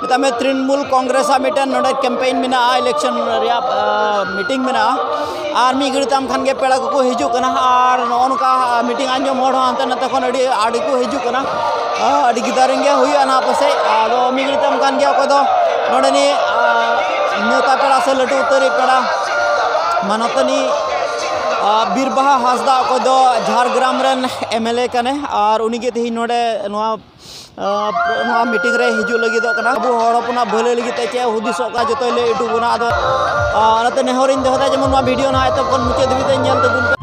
ᱢᱮᱛᱟᱜ ᱢᱮ ᱛᱨᱤᱱᱢᱩᱞ ᱠᱚᱝᱜᱨᱮᱥ ᱟᱜ ᱢᱤᱫᱴᱮᱱ ᱱᱚᱰᱮ ᱠᱮᱢᱯᱮᱭᱤᱱ ᱢᱮᱱᱟᱜᱼᱟ ᱤᱞᱮᱠᱥᱚᱱ ᱨᱮᱭᱟᱜ ᱢᱤᱴᱤᱝ ᱢᱮᱱᱟᱜᱼᱟ ᱟᱨ ᱢᱤᱫ ᱜᱷᱟᱹᱲᱤᱡ ᱛᱟᱭᱚᱢ ᱠᱷᱟᱱ ᱜᱮ ᱯᱮᱲᱟ ᱠᱚᱠᱚ ᱦᱤᱡᱩᱜ ᱠᱟᱱᱟ ᱟᱨ ᱱᱚᱜᱼᱚ ᱱᱚᱝᱠᱟ ᱢᱤᱴᱤᱝ ᱟᱸᱡᱚᱢ ᱦᱚᱲ ᱦᱚᱸ ᱦᱟᱱᱛᱮ ᱱᱟᱛᱮ ᱠᱷᱚᱱ ᱟᱹᱰᱤ ᱟᱹᱰᱤ ᱠᱚ ᱦᱤᱡᱩᱜ ᱠᱟᱱᱟ ᱟᱹᱰᱤ ᱜᱤᱫᱟᱹᱨᱤᱧ ᱜᱮ ᱦᱩᱭᱩᱜᱼᱟ ᱱᱟᱦᱟᱜ ᱯᱟᱥᱮᱡ ᱟᱫᱚ ᱢᱤᱫ ᱜᱷᱟᱹᱲᱤᱡ ᱛᱟᱭᱚᱢ ᱠᱷᱟᱱ ᱜᱮ ᱚᱠᱚᱭ ᱫᱚ ᱱᱚᱰᱮᱱᱤᱡ ᱱᱮᱛᱟ ᱯᱮᱲᱟ ᱥᱮ ᱞᱟᱹᱴᱩ ᱩᱛᱟᱹᱨᱤᱡ ᱯᱮᱲᱟ ᱢᱟᱱᱚᱛᱟᱹᱱᱤ ᱵᱤᱨᱵᱟᱦᱟ ᱦᱟᱸᱥᱫᱟ ᱚᱠᱚᱭ ᱫᱚ ᱡᱷᱟᱲᱜᱨᱟᱢ ᱨᱮᱱ ᱮᱢ ᱮᱞ ᱮ ᱠᱟᱱᱟᱭ ᱟᱨ ᱩᱱᱤᱜᱮ ᱛᱮᱦᱮᱧ ᱱᱚᱰᱮ ᱱᱚᱣᱟ ᱱᱚᱣᱟ ᱢᱤᱴᱤᱝ ᱨᱮ ᱦᱤᱡᱩᱜ ᱞᱟᱹᱜᱤᱫᱚᱜ ᱠᱟᱱᱟ ᱟᱵᱚ ᱦᱚᱲ ᱦᱚᱯᱚᱱᱟᱜ ᱵᱷᱟᱹᱞᱟᱹᱭ ᱞᱟᱹᱜᱤᱫ ᱛᱮ ᱪᱮᱫ ᱦᱩᱫᱤᱥᱚᱜ ᱠᱟᱱᱟ ᱡᱚᱛᱚᱭ ᱞᱟᱹᱭ ᱦᱚᱴᱚ ᱵᱚᱱᱟ ᱟᱫᱚ ᱚᱱᱟᱛᱮ ᱱᱮᱦᱚᱨᱤᱧ ᱫᱚᱦᱚᱭᱮᱫᱟ ᱡᱮᱢᱚᱱ ᱱᱚᱣᱟ ᱵᱷᱤᱰᱤᱭᱳ ᱱᱟᱦᱟᱜ ᱮᱛᱚᱦᱚᱵ ᱠᱷᱚᱱ ᱢᱩᱪᱟᱹᱫ ᱫᱷᱟᱹᱵᱤᱡ ᱛᱮ ᱧᱮᱞ ᱛᱟᱵᱚᱱ ᱯᱮ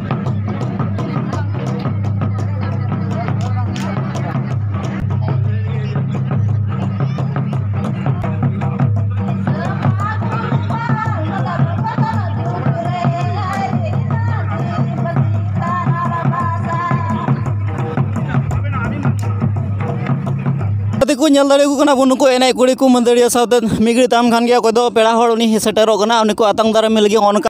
ᱠᱚ ᱧᱮᱞ ᱫᱟᱲᱮᱭᱟᱠᱚ ᱠᱟᱱᱟ ᱵᱚᱱ ᱱᱩᱠᱩ ᱮᱱᱮᱡ ᱠᱩᱲᱤ ᱠᱚ ᱢᱟᱹᱫᱟᱹᱲᱤᱭᱟᱹ ᱥᱟᱶᱛᱮ ᱢᱤᱜᱲᱤ ᱛᱟᱢ ᱠᱷᱟᱱ ᱜᱮ ᱚᱠᱚᱭ ᱫᱚ ᱯᱮᱲᱟ ᱦᱚᱲ ᱩᱱᱤ ᱥᱮᱴᱮᱨᱚᱜ ᱠᱟᱱᱟ ᱩᱱᱤ ᱠᱚ ᱟᱛᱟᱝ ᱫᱟᱨᱟᱢᱮ ᱞᱟᱹᱜᱤᱫ ᱚᱱᱠᱟ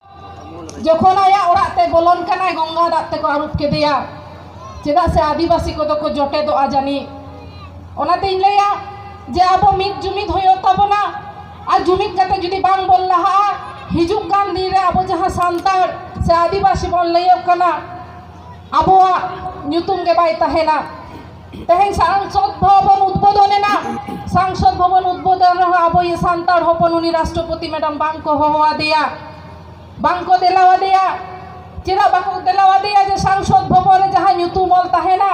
ᱡᱚᱠᱷᱚᱱ ᱟᱭᱟᱜ ᱚᱲᱟᱜ ᱛᱮ ᱵᱚᱞᱚᱱ ᱠᱟᱱᱟᱭ ᱜᱚᱝᱜᱟ ᱫᱟᱜ ᱛᱮᱠᱚ ᱟᱹᱨᱩᱵ ᱠᱮᱫᱮᱭᱟ ᱪᱮᱫᱟᱜ ᱥᱮ ᱟᱹᱫᱤᱵᱟᱹᱥᱤ ᱠᱚᱫᱚ ᱠᱚ ᱡᱚᱴᱮᱫᱚᱜᱼᱟ ᱡᱟᱹᱱᱤᱡ ᱚᱱᱟᱛᱮᱧ ᱞᱟᱹᱭᱟ ᱡᱮ ᱟᱵᱚ ᱢᱤᱫ ᱡᱩᱢᱤᱫ ᱦᱩᱭᱩᱜ ᱛᱟᱵᱚᱱᱟ ᱟᱨ ᱡᱩᱢᱤᱫ ᱠᱟᱛᱮ ᱡᱩᱫᱤ ᱵᱟᱝ ᱵᱚᱱ ᱞᱟᱦᱟᱜᱼᱟ ᱦᱤᱡᱩᱜ ᱠᱟᱱ ᱫᱤᱱ ᱨᱮ ᱟᱵᱚ ᱡᱟᱦᱟᱸ ᱥᱟᱱᱛᱟᱲ ᱥᱮ ᱟᱹᱫᱤᱵᱟᱹᱥᱤ ᱵᱚᱱ ᱞᱟᱹᱭᱚᱜ ᱠᱟᱱᱟ ᱟᱵᱚᱣᱟᱜ ᱧᱩᱛᱩᱢ ᱜᱮ ᱵᱟᱭ ᱛᱟᱦᱮᱱᱟ ᱛᱮᱦᱮᱧ ᱥᱟᱝᱥᱚᱫ ᱵᱷᱚᱵᱚᱱ ᱩᱫᱽᱵᱳᱫᱷᱚᱱ ᱮᱱᱟ ᱥᱟᱝᱥᱚᱫ ᱵᱷᱚᱵᱚᱱ ᱩᱫᱽᱵᱳᱫᱷᱚᱱ ᱨᱮᱦᱚᱸ ᱟᱵᱚ ᱤᱭᱟᱹ ᱥᱟᱱᱛᱟᱲ ᱦᱚᱯᱚᱱ ᱩᱱᱤ ᱨᱟᱥᱴᱨᱚᱯᱚᱛᱤ ᱢᱮᱰᱟᱢ ᱵᱟᱝ ᱠᱚ ᱦᱚᱦᱚ ᱟᱫᱮᱭᱟ ᱵᱟᱝ ᱠᱚ ᱫᱮᱞᱟ ᱟᱫᱮᱭᱟ ᱪᱮᱫᱟᱜ ᱵᱟᱠᱚ ᱫᱮᱞᱟ ᱟᱫᱮᱭᱟ ᱡᱮ ᱥᱟᱝᱥᱚᱫ ᱵᱷᱚᱵᱚᱱ ᱨᱮ ᱡᱟᱦᱟᱸ ᱧᱩᱛᱩᱢ ᱚᱞ ᱛᱟᱦᱮᱱᱟ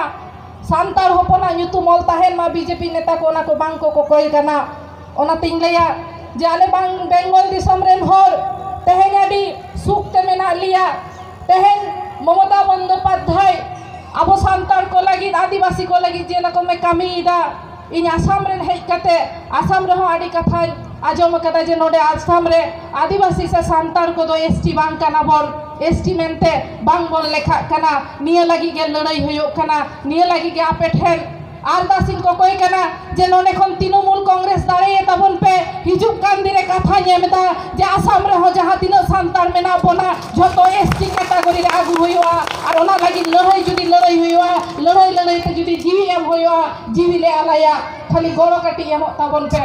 ᱥᱟᱱᱛᱟᱲ ᱦᱚᱯᱚᱱᱟᱜ ᱧᱩᱛᱩᱢ ᱚᱞ ᱛᱟᱦᱮᱱ ᱢᱟ ᱵᱤᱡᱮᱯᱤ ᱱᱮᱛᱟ ᱠᱚ ᱚᱱᱟ ᱠᱚ ᱵᱟᱝ ᱠᱚ ᱠᱚᱠᱚᱭ ᱠᱟᱱᱟ ᱚᱱᱟᱛᱤᱧ ᱞᱟᱹᱭᱟ ᱡᱮ ᱟᱞᱮ ᱵᱟᱝ ᱵᱮᱝᱜᱚᱞ ᱫᱤᱥᱚᱢ ᱨᱮᱱ ᱦᱚᱲ ᱛᱮᱦᱮᱧ ᱟᱹᱰᱤ ᱥᱩᱠ ᱛᱮ ᱢᱮᱱᱟᱜ ᱞᱮᱭᱟ ᱛᱮᱦᱮᱧ ᱢᱚᱢᱚᱛᱟ ᱵᱚᱱᱫᱳᱯᱟᱫᱽᱫᱷᱟᱭ ᱟᱵᱚ ᱥᱟᱱᱛᱟᱲ ᱠᱚ ᱞᱟᱹᱜᱤᱫ ᱟᱹᱫᱤᱵᱟᱹᱥᱤ ᱠᱚ ᱞᱟᱹᱜᱤᱫ ᱡᱮ ᱨᱚᱠᱚᱢᱮ ᱠᱟᱹᱢᱤᱭᱮᱫᱟ ᱤᱧ ᱟᱥᱟᱢ ᱨᱮ ᱦᱮᱡ ᱠᱟᱛᱮ ᱟᱥᱟᱢ ᱨᱮᱦᱚᱸ ᱟᱹᱰᱤ ᱠᱟᱛᱷᱟᱧ ᱟᱸᱡᱚᱢ ᱠᱟᱫᱟ ᱡᱮ ᱱᱚᱰᱮ ᱟᱥᱟᱢ ᱨᱮ ᱟᱹᱫᱤᱵᱟᱹᱥᱤ ᱥᱮ ᱥᱟᱱᱛᱟᱲ ᱠᱚᱫᱚ ᱮᱥ ᱴᱤ ᱵᱟᱝ ᱠᱟᱱᱟ ᱵᱚᱱ ᱮᱥ ᱴᱤ ᱢᱮᱱᱛᱮ ᱵᱟᱝ ᱵᱚᱱ ᱞᱮᱠᱷᱟᱜ ᱠᱟᱱᱟ ᱱᱤᱭᱟᱹ ᱞᱟᱹᱜᱤᱫ ᱜᱮ ᱞᱟᱹᱲᱦᱟᱹᱭ ᱦᱩᱭᱩᱜ ᱠᱟᱱᱟ ᱱᱤᱭᱟᱹ ᱞᱟᱹᱜᱤᱫ ᱜᱮ ᱟᱯᱮ ᱴᱷᱮᱱ ᱟᱨᱫᱟᱥ ᱤᱧ ᱠᱚᱠᱚᱭ ᱠᱟᱱᱟ ᱡᱮ ᱱᱚᱰᱮ ᱠᱷᱚᱱ ᱛᱤᱱᱩᱢᱩᱞ ᱠᱚᱝᱜᱨᱮᱥ ᱫᱟᱲᱮᱭᱮ ᱛᱟᱵᱚᱱ ᱯᱮ ᱦᱤᱡᱩᱜ ᱠᱟᱱ ᱫᱤᱱ ᱨᱮ ᱠᱟᱛᱷᱟᱧ ᱮᱢ ᱮᱫᱟ ᱡᱮ ᱟᱥᱟᱢ ᱨᱮᱦᱚᱸ ᱡᱟᱦᱟᱸ ᱛᱤᱱᱟᱹᱜ ᱥᱟᱱᱛᱟᱲ ᱢᱮᱱᱟᱜ ᱵᱚᱱᱟ ᱡᱷᱚᱛᱚ ᱮᱥᱴᱤ ᱠᱮᱴᱟᱜᱚᱨᱤ ᱨᱮ ᱟᱹᱜᱩ ᱦᱩᱭᱩᱜᱼᱟ ᱟᱨ ᱚᱱᱟ ᱞᱟᱹᱜᱤᱫ ᱞᱟᱹᱲᱦᱟᱹᱭ ᱡᱩᱫᱤ ᱞᱟᱹᱲᱦᱟᱹᱭ ᱦᱩᱭᱩᱜᱼᱟ ᱞᱟᱹᱲᱦᱟᱹᱭ ᱞᱟᱹᱲᱦᱟᱹᱭ ᱛᱮ ᱡᱩᱫᱤ ᱡᱤᱣᱤ ᱮᱢ ᱦᱩᱭᱩᱜᱼᱟ ᱡᱤᱣᱤ ᱞᱮ ᱟᱞᱟᱭᱟ ᱠᱷᱟᱹᱞᱤ ᱜᱚᱲᱚ ᱠᱟᱹᱴᱤᱡ ᱮᱢᱚᱜ ᱛᱟᱵᱚᱱ ᱯᱮ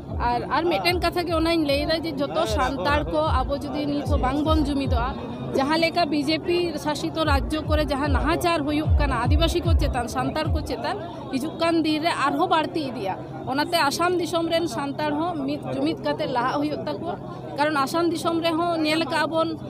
ᱟᱨ ᱟᱨ ᱢᱤᱫᱴᱮᱱ ᱠᱟᱛᱷᱟ ᱜᱮ ᱚᱱᱟᱧ ᱞᱟᱹᱭᱫᱟ ᱡᱮ ᱡᱚᱛᱚ ᱥᱟᱱᱛᱟᱲ ᱠᱚ ᱟᱵᱚ ᱡᱩᱫᱤ ᱱᱤᱛ ᱦᱚᱸ ᱵᱟᱝᱵᱚᱱ ᱡᱩᱢᱤᱫᱚᱜᱼᱟ ᱡᱟᱦᱟᱸ ᱞᱮᱠᱟ ᱵᱤᱡᱮᱯᱤ ᱥᱟᱥᱤᱛ ᱨᱟᱡᱽᱡᱚ ᱠᱚᱨᱮ ᱡᱟᱦᱟᱸ ᱱᱟᱦᱟᱪᱟᱨ ᱦᱩᱭᱩᱜ ᱠᱟᱱᱟ ᱟᱹᱫᱤᱵᱟᱹᱥᱤ ᱠᱚ ᱪᱮᱛᱟᱱ ᱥᱟᱱᱛᱟᱲ ᱠᱚ ᱪᱮᱛᱟᱱ ᱦᱤᱡᱩᱜ ᱠᱟᱱ ᱫᱤᱱ ᱨᱮ ᱟᱨᱦᱚᱸ ᱵᱟᱹᱲᱛᱤ ᱤᱫᱤᱜᱼᱟ ᱚᱱᱟᱛᱮ ᱟᱥᱟᱢ ᱫᱤᱥᱚᱢ ᱨᱮᱱ ᱥᱟᱱᱛᱟᱲ ᱦᱚᱸ ᱢᱤᱫ ᱡᱩᱢᱤᱫ ᱠᱟᱛᱮ ᱞᱟᱦᱟᱜ ᱦᱩᱭᱩᱜ ᱛᱟᱠᱚᱣᱟ ᱠᱟᱨᱚᱱ ᱟᱥᱟᱢ ᱫᱤᱥᱚᱢ ᱨᱮᱦᱚᱸ ᱧᱮᱞ ᱠᱟᱜᱼᱟ ᱵᱚᱱ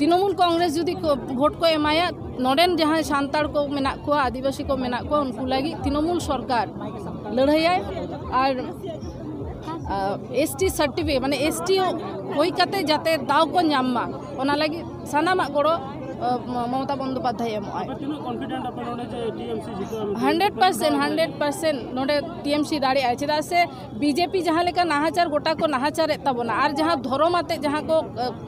ᱛᱤᱱᱟᱹᱢᱩᱞ ᱠᱚᱝᱜᱨᱮᱥ ᱡᱩᱫᱤ ᱵᱷᱳᱴ ᱠᱚ ᱮᱢᱟᱭᱟ ᱱᱚᱰᱮᱱ ᱡᱟᱦᱟᱸᱭ ᱥᱟᱱᱛᱟᱲ ᱠᱚ ᱢᱮᱱᱟᱜ ᱠᱚᱣᱟ ᱟᱹᱫᱤᱵᱟᱹᱥᱤ ᱠᱚ ᱢᱮᱱᱟᱜ ᱠᱚᱣᱟ ᱩᱱᱠᱩ ᱞᱟᱹᱜᱤᱫ ᱛᱤᱱᱟᱹᱢᱩᱞ ᱥᱚᱨᱠᱟᱨ ᱞᱟᱹᱲᱦᱟᱹᱭᱟᱭ ᱟᱨ ᱮᱥᱴᱤ ᱥᱟᱨᱴᱤᱯᱷᱤᱠᱮᱴ ᱢᱟᱱᱮ ᱮᱥᱴᱤ ᱦᱩᱭ ᱠᱟᱛᱮ ᱡᱟᱛᱮ ᱫᱟᱣ ᱠᱚ ᱧᱟᱢ ᱢᱟ ᱚᱱᱟ ᱞᱟᱹᱜᱤᱫ ᱥᱟᱱᱟᱢᱟᱜ ᱜᱚᱲᱚ ᱢᱚᱢᱚᱛᱟ ᱵᱚᱱᱫᱳᱯᱟᱫᱽᱫᱷᱟᱭ ᱮᱢᱚᱜᱼᱟᱭ ᱦᱟᱱᱰᱨᱮᱰ ᱯᱟᱨᱥᱮᱱᱴ ᱦᱟᱱᱰᱨᱮᱰ ᱯᱟᱨᱥᱮᱱᱴ ᱱᱚᱰᱮ ᱴᱤᱮᱢᱥᱤ ᱫᱟᱲᱮᱭᱟᱜᱼᱟᱭ ᱪᱮᱫᱟᱜ ᱥᱮ ᱵᱤᱡᱮᱯᱤ ᱡᱟᱦᱟᱸ ᱞᱮᱠᱟ ᱱᱟᱦᱟᱪᱟᱨ ᱜᱚᱴᱟ ᱠᱚ ᱱᱟᱦᱟᱪᱟᱨᱮᱫ ᱛᱟᱵᱚᱱᱟ ᱟᱨ ᱡᱟᱦᱟᱸ ᱫᱷᱚᱨᱚᱢ ᱟᱛᱮ ᱡᱟᱦᱟᱸ ᱠᱚ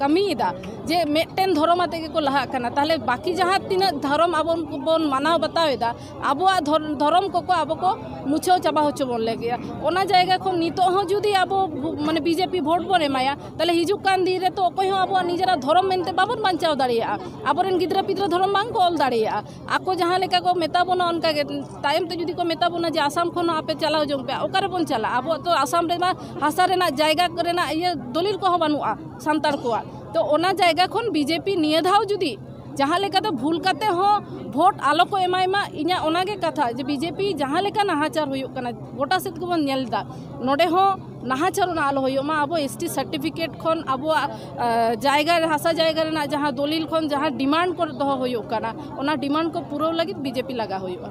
ᱠᱟᱹᱢᱤᱭᱮᱫᱟ ᱡᱮ ᱢᱤᱫᱴᱮᱱ ᱫᱷᱚᱨᱚᱢ ᱟᱛᱮ ᱜᱮᱠᱚ ᱞᱟᱦᱟᱜ ᱠᱟᱱᱟ ᱛᱟᱦᱚᱞᱮ ᱵᱟᱹᱠᱤ ᱡᱟᱦᱟᱸ ᱛᱤᱱᱟᱹᱜ ᱫᱷᱚᱨᱚᱢ ᱟᱵᱚ ᱵᱚᱱ ᱢᱟᱱᱟᱣ ᱵᱟᱛᱟᱣᱮᱫᱟ ᱟᱵᱚᱣᱟᱜ ᱫᱷᱚᱨᱚᱢ ᱠᱚᱠᱚ ᱟᱵᱚ ᱠᱚ ᱢᱩᱪᱷᱟᱹᱣ ᱪᱟᱵᱟ ᱦᱚᱪᱚ ᱵᱚᱱ ᱞᱟᱹᱜᱤᱫ ᱚᱱᱟ ᱡᱟᱭᱜᱟ ᱠᱷᱚᱱ ᱱᱤᱛᱚᱜ ᱦᱚᱸ ᱡᱩᱫᱤ ᱟᱵᱚ ᱢᱟᱱᱮ ᱵᱤᱡᱮᱯᱤ ᱵᱷᱳᱴ ᱵᱚᱱ ᱮᱢᱟᱭᱟ ᱛᱟᱦᱚᱞᱮ ᱦᱤᱡᱩᱜ ᱠᱟᱱ ᱫᱤᱱ ᱨᱮᱛᱚ ᱚᱠᱚᱭ ᱦᱚᱸ ᱟᱵᱚᱣᱟᱜ ᱱᱤᱡᱮᱨᱟᱜ ᱫᱷᱚᱨᱚᱢ ᱢᱮᱱᱛᱮ ᱵᱟᱵᱚᱱ ᱵᱟᱧᱪᱟᱣ ᱫᱟᱲᱮᱭᱟᱜᱼᱟ ᱟᱵᱚᱨᱮᱱ ᱜᱤᱫᱽᱨᱟᱹ ᱯᱤᱫᱽᱨᱟᱹ ᱫᱷᱚᱨᱚᱢ ᱵᱟᱝᱠᱚ ᱚᱞ ᱫᱟᱲᱮᱭᱟᱜᱼᱟ ᱟᱠᱚ ᱡᱟᱦᱟᱸ ᱞᱮᱠᱟ ᱠᱚ ᱢᱮᱛᱟ ᱵᱚᱱᱟ ᱚᱱᱠᱟ ᱜᱮ ᱛᱟᱭᱚᱢ ᱛᱮ ᱡᱩᱫᱤ ᱠᱚ ᱢᱮᱛᱟ ᱵᱚᱱᱟ ᱡᱮ ᱟᱥᱟᱢ ᱠᱷᱚᱱ ᱦᱚᱸ ᱟᱯᱮ ᱪᱟᱞᱟᱣ ᱡᱚᱝ ᱯᱮ ᱚᱠᱟ ᱨᱮᱵᱚᱱ ᱪᱟᱞᱟᱜᱼᱟ ᱟᱵᱚᱣᱟᱜ ᱛᱚ ᱟᱥᱟᱢ ᱨᱮᱢᱟ ᱦᱟᱥᱟ ᱨᱮᱱᱟᱜ ᱡᱟᱭᱜᱟ ᱨᱮᱱᱟᱜ ᱤᱭᱟᱹ ᱫᱚᱞᱤᱞ ᱠᱚᱦᱚᱸ ᱵᱟᱹᱱᱩᱜᱼᱟ ᱥᱟᱱᱛᱟᱲ ᱠᱚᱣᱟᱜ ᱛᱚ ᱚᱱᱟ ᱡᱟᱭᱜᱟ ᱠᱷᱚᱱ ᱵᱤᱡᱮᱯᱤ ᱱᱤᱭᱟᱹ ᱫᱷᱟᱣ ᱡᱩᱫᱤ ᱡᱟᱦᱟᱸ ᱞᱮᱠᱟᱛᱮ ᱵᱷᱩᱞ ᱠᱟᱛᱮ ᱦᱚᱸ ᱵᱷᱳᱴ ᱟᱞᱚ ᱠᱚ ᱮᱢᱟᱭ ᱢᱟ ᱤᱧᱟᱹᱜ ᱚᱱᱟᱜᱮ ᱠᱟᱛᱷᱟ ᱡᱮ ᱵᱤᱡᱮᱯᱤ ᱡᱟᱦᱟᱸ ᱞᱮᱠᱟ ᱱᱟᱦᱟᱪᱟᱨ ᱦᱩᱭᱩᱜ ᱠᱟᱱᱟ ᱜᱚᱴᱟ ᱥᱮᱫ ᱜᱮᱵᱚᱱ ᱧᱮᱞ ᱮᱫᱟ ᱱᱚᱰᱮ ᱦᱚᱸ ᱱᱟᱦᱟᱪᱟᱨ ᱚᱱᱟ ᱟᱞᱚ ᱦᱩᱭᱩᱜ ᱢᱟ ᱟᱵᱚ ᱮᱥ ᱴᱤ ᱥᱟᱨᱴᱤᱯᱷᱤᱠᱮᱴ ᱠᱷᱚᱱ ᱟᱵᱚᱣᱟᱜ ᱡᱟᱭᱜᱟ ᱦᱟᱥᱟ ᱡᱟᱭᱜᱟ ᱨᱮᱱᱟᱜ ᱡᱟᱦᱟᱸ ᱫᱚᱞᱤᱞ ᱠᱷᱚᱱ ᱡᱟᱦᱟᱸ ᱰᱤᱢᱟᱱᱰ ᱠᱚ ᱫᱚᱦᱚ ᱦᱩᱭᱩᱜ ᱠᱟᱱᱟ ᱚᱱᱟ ᱰᱤᱢᱟᱱᱰ ᱠᱚ ᱯᱩᱨᱟᱹᱣ ᱞᱟᱹᱜᱤᱫ ᱵᱤᱡᱮᱯᱤ ᱞᱟᱜᱟᱣ ᱦᱩᱭᱩᱜᱼᱟ